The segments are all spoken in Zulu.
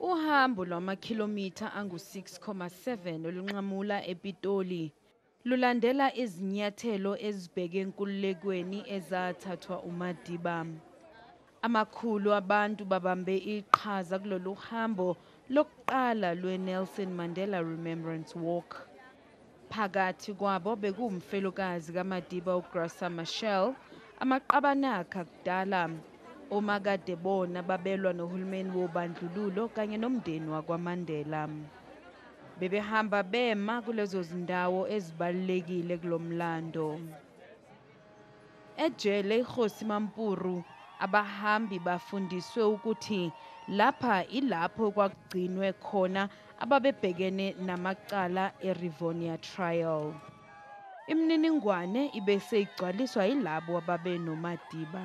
Uhambo lwamakhilomitha angu-6,7 olunqamula ePitoli lulandela izinyathelo ezibheke enkululekweni ezathathwa uMadiba. Amakhulu abantu babambe iqhaza kulolu hambo lokuqala lwe-Nelson Mandela Remembrance Walk. Phakathi kwabo bekuwumfelokazi kaMadiba uGrasa Machel, amaqabane akhe akudala, omakade bona babelwa nohulumeni wobandlululo kanye nomndeni wakwaMandela. Bebehamba bema kulezo zindawo ezibalulekile kulo mlando. Ejele iKhosi Mampuru abahambi bafundiswe ukuthi lapha ilapho kwakugcinwe khona ababebhekene namacala eRivonia Trial. Imininingwane ibe seyigcwaliswa yilabo ababenoMadiba.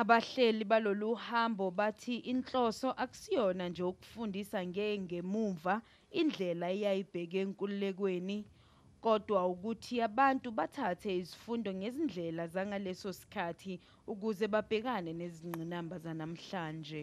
Abahleli balolu hambo bathi inhloso akusiyona nje ukufundisa ngengemuva indlela eyayibheke enkululekweni kodwa ukuthi abantu bathathe izifundo ngezindlela zangaleso sikhathi ukuze babhekane nezingqinamba zanamhlanje.